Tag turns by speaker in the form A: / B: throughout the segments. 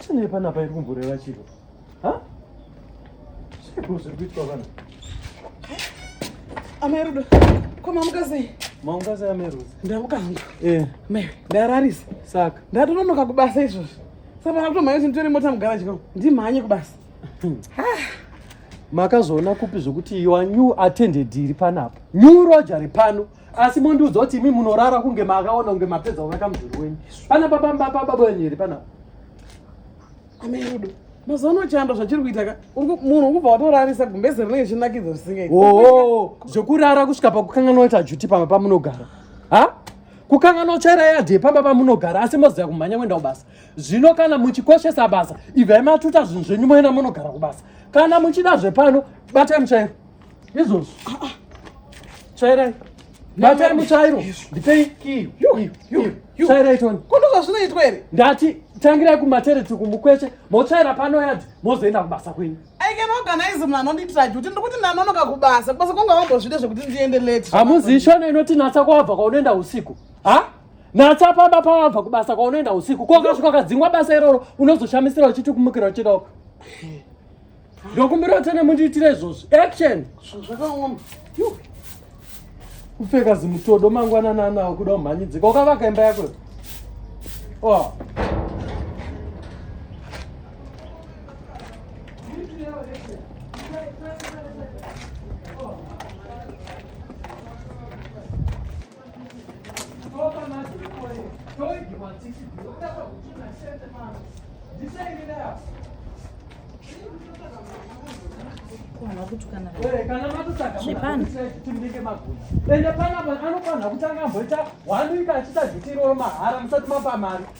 A: Chinei panapa iri kumboreva chiro? Ha? Chiko zviri kuitwa vanhu.
B: Amai Rudo, ko mamuka sei? Mamuka sei amai Rudo?
A: Ndamuka hangu. Eh.
B: Mai,
A: ndararisa.
B: Saka. Ndatononoka
A: kubasa
B: izvozvi. Saka ndakakutomhanya kuti nditore mota mugaraji kwangu. Ndimhanye kubasa.
A: Makazoona kupi zvokuti your new attended iri panapa? New Roger pano. asi mondiudza kuti imi munorara kunge maakaona kunge mapedza kuvaka mudhuri wenyu pana papambapababa wenyu here panapa amerudo
B: mazuva ano chando zvachiri kuita ka munhu ukubva watorarisa gumbeze rinenge chinakidzo zvisingaiti oo zvekurara
A: kusvika pakukanganwa kuti ajuti pamba pamunogara ha kukanganwa kutsvaira yadhe pamba pamunogara asi moziva kumhanya kuenda kubasa zvino kana muchikoshesa basa ibvai matuta zvinhu zvenyu moenda munogara kubasa kana muchida zvepano batai mutsvairo izvozvo ah, ah. tsvairai batai mutsvairo ndipei kiyo tsvairai toni kuno zvazvinoitwa here
B: ndati tangirai
A: kumatereti kumukweche motsvaira pano yadzi mozoenda kubasa kwenyu i can organize
B: munhu anondiitira juti ndikuti ndanonoka kubasa kubasa kwanga wambozvide zvekuti ndiende late hamuzivi shona inoti
A: natsa kwabva kwaunoenda usiku ha natsa pamba pawabva kubasa kwaunoenda usiku kokasvika kadzingwa basa iroro unozoshamisira uchiti kumukira uchienda uko ndokumbirawo tene mundiitire izvozvo action zvakaoma kupfeka zimutodo mangwanana anawo kuda umhanyidzika ukavaka imba yako oh.
C: zvepano
A: ende panapa anofanira kutanga amboita wanuika achita zvitiroro mahara musati mapa mari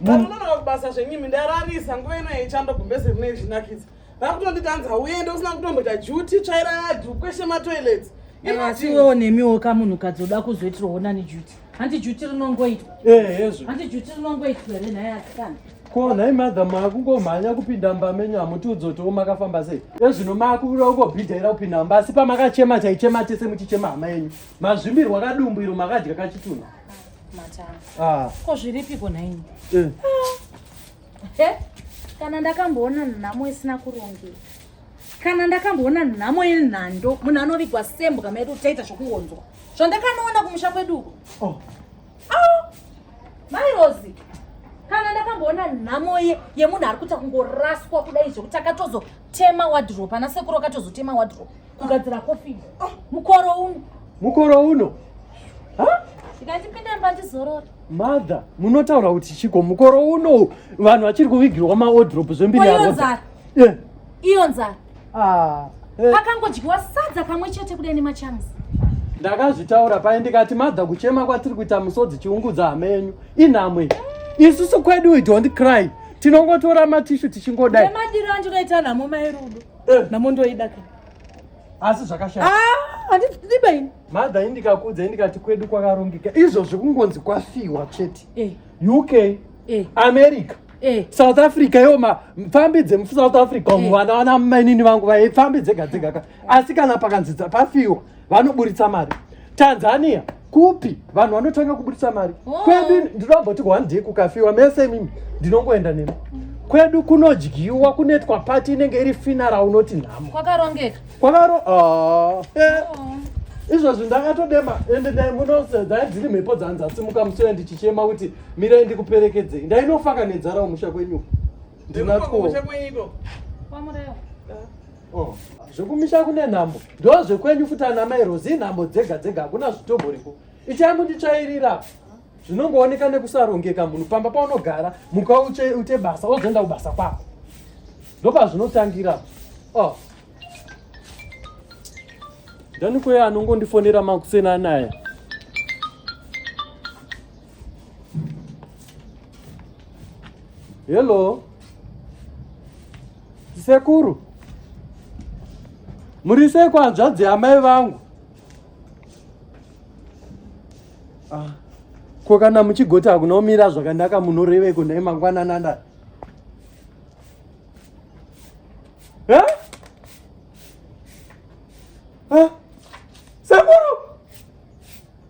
C: vanhu
B: unonoka kubasa zvenyimi ndararisa nguva ino yechando gumbezi rine izvinakidza vakutonditanza uende usina kutomboita juti tsvaira yadhu kweshe matoilets asi iwewo
C: nemiwo ka munhukadzi oda kuzoitirawo nani juti hanti juti rinongoitwa ehezvo hanti juti rinongoitwa here nhai asikana ko nhai
A: madha makungomhanya kupinda mba menyu hamutiudzotiwo makafamba sei ezvino makuda kungobhidhaira kupinda mba asi pamakachema chaichema tese muchichema hama yenyu mazvimbirwa kadumbu iro makadya kachitunha
C: Ah. ko zviripiko nhaini eh. ah. kana ndakamboona nhamo isina kurongeka kana ndakamboona nhamo yenhando munhu anovigwa sembwa medu taita zvokuonzwa zvandakanoona kumusha kwedu uko oh. ah. mai rosi kana ndakamboona nhamo yemunhu ari kuita kungoraswa kudai zvokuti akatozotema wadrop ana sekuru akatozotema wadrop kugadzira coffin ah. mukoro uno mukoro
A: uno ndikachipinda
C: mba ndizorora mother
A: munotaura kuti chiko mukoro uno vanhu vachiri kuvigirwa maodrop zvembiri iyo nzara
C: eh. iyo nzara ah, eh. pakangodyiwa sadza kamwe chete kudai nemachanzi ndakazvitaura
A: paye ndikati madha kuchema kwatiri kuita musodzi chiungudza hamenyu inhamwe isusu kwedu we don't cry tinongotora matishu tichingodai madiro andinoita
C: nhamo mairudo Eh. Namondoida ke. Asi
A: zvakashata. Ah, andiba
C: ini. Mother indikakudza
A: indikati kwedu kwakarongeka. Izvo zvikungonzi kwafiwa chete. Eh. UK. Eh. America. Eh. South Africa yo ma pfambi dze South Africa eh. vana vana mainini vangu vaipfambi dzega dzega ka. Asi kana pakanzidza pafiwa. vanoburitsa mari tanzania kupi vanhu vanotanga kuburitsa mari oh. kwedu ndinoamboti one day kukafiwa mese imimi ndinongoenda nemi kwedu kunodyiwa kunoitwa pati inenge iri finara unoti nhamo kwakarongeka kwakaro
C: ah, eh. oh.
A: izvozvi ndakatodema ende dai munodzai dziri mhepo dzanzasimuka musoya ndichichema kuti mirai ndikuperekedzei ndainofaka nedzara umusha kwenyuko ndinatwo Oh, zvekumisha kune nhambo ndo zvekwenyu futi ana mai rozi nhambo dzega dzega hakuna zvitoboriko ichai munditsvairira zvinongooneka nekusarongeka munhu pamba paunogara muka uche ute basa wozoenda kubasa kwako ndopazvinotangira oh. ndani kweye anongondifonera makuseni anaya Hello. Sekuru. Muri sei kwanzvadzi amai vangu? Ah. Ko kana muchigoti hakuna umira zvakanaka munoreveiko ndai mangwana nanda. Eh? Eh? Sekuru.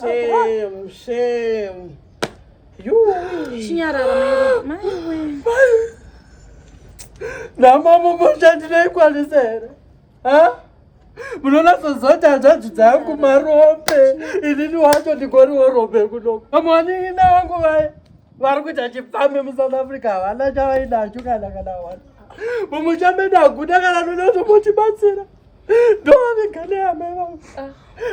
B: Shame, shame. Chinyarara maiwe.
A: Namama moshandinoikwanisa here? Ha? munonasozota hanzvadzi dzangu marombe inini wacho ndingoriwo rombe kunoku amuwanini nawangu vaya vari kuita chipfambi musouth africa havana chavaidacho kana kana wani mumuchambe daguda kana nonazvo motibatsira ndovamiganeamai vangu ah.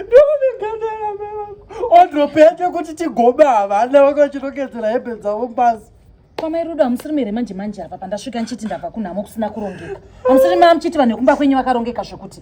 A: ndovamiganeamai vangu odropete kuti tigome havana vanga vachirongedzera hembe dzavo mbazi kwamai rudo hamusiri
C: mere manje manje apa pandasvika ndichiti ndabva kunhamo kusina kurongeka hamusiri maamuchiti vanhu vekumba kwenyu vakarongeka zvekuti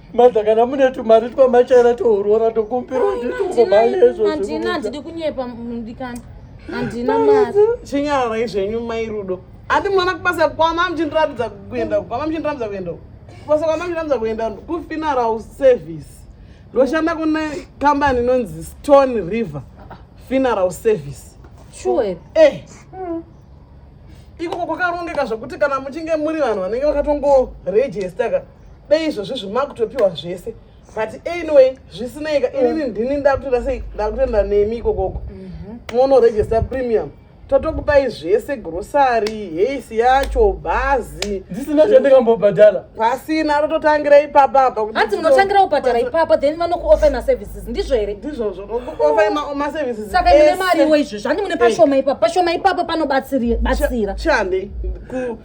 B: Madha kana mune
A: tumari twamachaira tourora tokumbira handina ndidi
C: kunyepa mudikani handina mari chinyararai zvenyu
B: mai rudo handi mwana kubasa kwama muchindiratidza kuenda kwama muchindiratidza kuenda kubasa kwama muchindiratidza kuenda kufuneral service ndoshanda kune kambani inonzi stone river funeral service sure
C: eh
B: mm ikoko kwakarongeka zvekuti kana muchinge muri vanhu vanenge vakatongoregistaka dei izvozvi zvimakutopiwa zvese but anyway zvisineyika inini mm. ndini ndakutoenda sei ndakutoenda nemi ikokoko mhm. monoregista premium totokupai zvese grosari hesi yacho bhazi dzisina chandingambobhadhara
A: pasina
B: tototangira ipapa apa hanzi munotangira
C: kubhadhara ipapa then vanokuofai maservices ndizvo here ndizvozvo nokuofai
B: maservices saka ine mari iwo
C: izvozvo handi mune pashoma ipapa pashoma ipapa panobatsira chihandei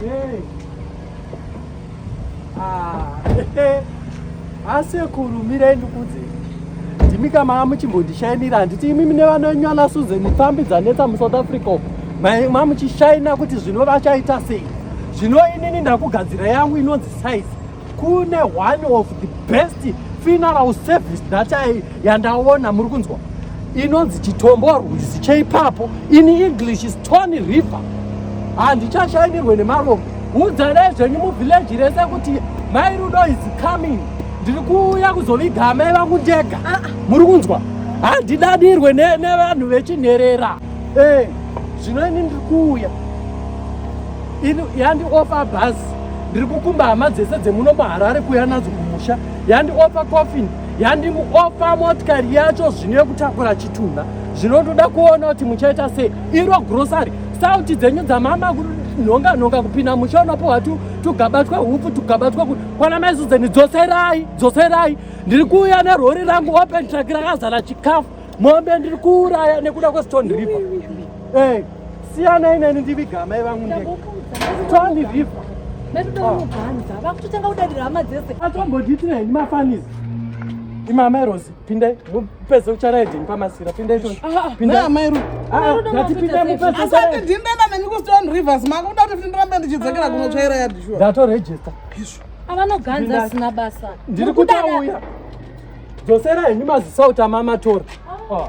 A: Hey. Ah, hey. asekuru mirai ndikuudze ndimi ka mava muchimbondishainira handiti imimi nevana venyu ana susan pfambi dzanetsa musouth africa uko ma muchishaina kuti zvino vachaita sei zvino inini ndakugadzira yangu inonzi size kune one of the best funeral service that I yandaona muri kunzwa inonzi chitombo rwizi cheipapo in english is tony river handichashainirwe nemarombe udzanai zvenyu muvhileji rese kuti mai rudo is coming ndiri kuuya kuzoviga amai vangu ndega ah, ah. muri kunzwa handidadirwe nevanhu vechinherera Eh, zvino ini ndiri kuuya ini yandiofa bhazi ndiri kukumba hama dzese dzemuno muharare kuuya nadzo kumusha yandiofa coffin yandimuofa motikari yacho zvino yekutakura chitunha zvinotoda kuona kuti muchaita sei iro grocery sauti dzenyu dzamama nhonga nhonga kupinda musha unopiwa tu tugaba twehupfu tugaba twekuti kwana maizuzeni dzoserai dzoserai ndiri kuuya nerori rangu open track rakazara chikafu mombe ndiri kuuraya nekuda kwestone river eh, siyanai neni ndiviga amai vangu nde stone river metodaunobhanza
C: ah. vakutotanga kudadira hama dzese atombodiitira henyu
A: mafanizi imi amai rosi pindai mupese ucharaidini pamasira pindai tonatipinda mupesendindana nemi
B: kustone rivers manga kuda kuti ndirambe ndichidzakira ah. kunotsvaira yadishuwa ndatorejista
A: avanoganza
C: asina basa ndiri
A: kutauya Dzosera henyu
C: maziso
A: utama matora. Oh.